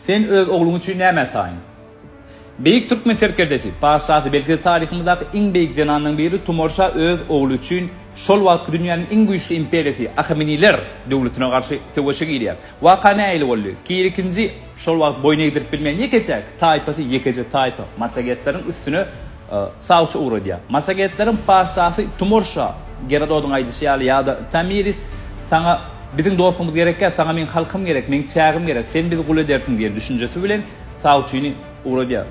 Sen öz ogluň üçin näme ataýyň? Beýik türkmen serkerdesi, patyşasy, belki-de taryhymyzdaky iň beýik zenanlaryň biri Tumor şa öz ogly üçin şol wagtky dünýäniň iň güýçli imperiýasy, Ahameniler döwletine garşy söweşe girýär. Waka nähili boldy? Kir ikinji şol wagt boýun egdirip bilmeýän ýeketäk taýpasy, ýekeje taýpa, massagetleriň üstüne Sawçy ugradýar. Massagetleriň patyşasy Tumor şa, Gerododyň aýdyşy ýaly, ýa-da Tomiris, Saňa biziň dostumyz gerekkä, saňa meň halkym gerek, meň çägim gerek, sen bizi gul edersiň diýen düşünjesi bilen sawçyny ugradýar.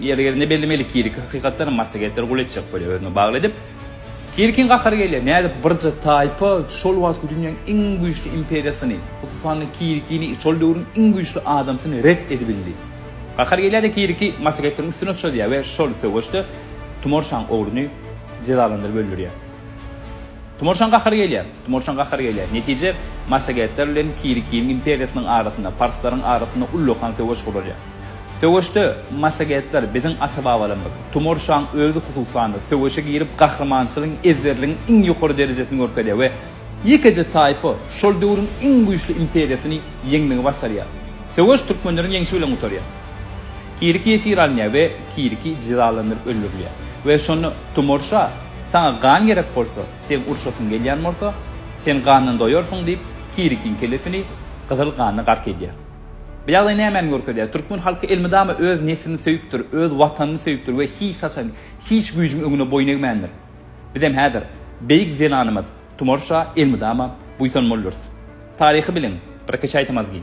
Ýeri gelende bellemeli, Kiriki hakykatdanam massagetleri gul etjek bolýar, özüne bagly edip. Kirikiň gahary gelýär, nädip birje taýpa şol wagtky dünýäň iň güýçli imperiýasyny, hususan-da Kirikini, şol döwrüň iň güýçli adamsyny ret edibildi? Gahar gelýär-de Kiriki maşgetiň üstüne çozýar we şol söweşde Tumorşaň ogluny jezalandyryp öldürýär. Tumorşaň gahary gelýär, Tumorşaň gahary gelýär. Netije, maşgetler bilen Kirikiniň imperiýasynyň arasynda, parslaryň arasynda ullakan söweş guralýar. Söweşde maşgetler biziň ata-babalarymyz, Tumorşaň özi hususan-da söweşe girip gahrymançylygyň, ezberligiň iň ýokary derejesini görkezýär we Ýekeje taýpa şol döwrüň iň güýçli imperiýasyny ýeňmegi başarýar. Söweş türkmenleriň ýeňşi bilen gutarýar. Kiriki ýesir alynýar we Kiriki jezalandyryp öldürilýär. We şonda Tumor şa, Saňa gan gerek bolsa, seň urşasyň gelýän bolsa, sen gandan doýarsyň diýip, Kirikiň kellesini gyzyl ganda gark edýär. Bu ýagdaý nämäni görkezýär? Türkmen halky elmydama öz neslini söýüpdir, öz Watanyny söýüpdir we hiç haçan hiç güýjüň öňüne boýun egmändir. Bizem häzir beýik zenanymyz Tumar şa elmydama buýsanmalydyrys. Taryhy biliň, bir-iki çaý-tamazgin.